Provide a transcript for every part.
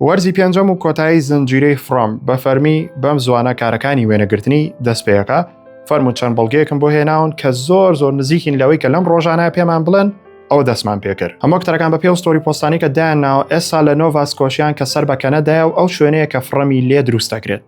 وەرزی پێنجەم و کۆتایی زنجیرەی فڕۆم بە فەرمی بەم زوانە کارەکانی وێنەگرتنی دەست پێەکە فەرمو چەند بەڵگەیەکم بۆ هێناون کە زۆر زۆر نزیکین لەوەی کە لەم ڕۆژانە پێمان بڵێن ئەو دەستمان پێکرد ئەمە کتەرەکان بە پێو ستۆری پۆستانی کە دایان ناوە ئێستا لە نۆڤاسکۆشیان کە سەر بە کەنەدایە و ئەو شوێنەیە کە فڕەمی لێ دروستەکرێت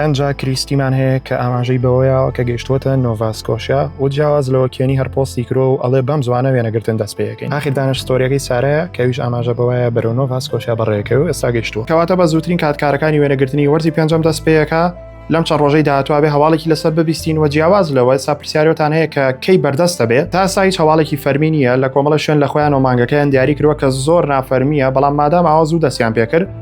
ئەنجا کریستیمان هەیە کە ئاماژەی بەوەیەوە کە گەشتوەتە نۆڤاسکۆشیا و جیاواز لەوە کێنی هەر پۆستی کرۆ و ئەڵێ بەم زوانە وێنەگرتن دەست پێەکەین ئاخر دانش ستۆریەکەی سارەیە کەویش ئاماژە بەوەیە بەرەو نۆڤاسکۆشیا بەڕێکە و ئێستا گەشتووە کەواتە بە زووترین کاتکارەکانی وێنەگرتنی وەرزی پێنجەم دەست پێەکە لەم چەند ڕۆژەی داهاتواێ هەواڵێکی لەسەر ببیستین و جیاواز لەوە سا پرسیارەتان هەیە کە کەی بەردەستە بێت تا سایت هەواڵێکی فەرمی نیە لە کۆمەڵە شوێن لە خۆیان و مانگەکەیان دیاری کردوە کە زۆر نافەرمیە بەڵام مادام ئاوا زوو دەستیان پێکرد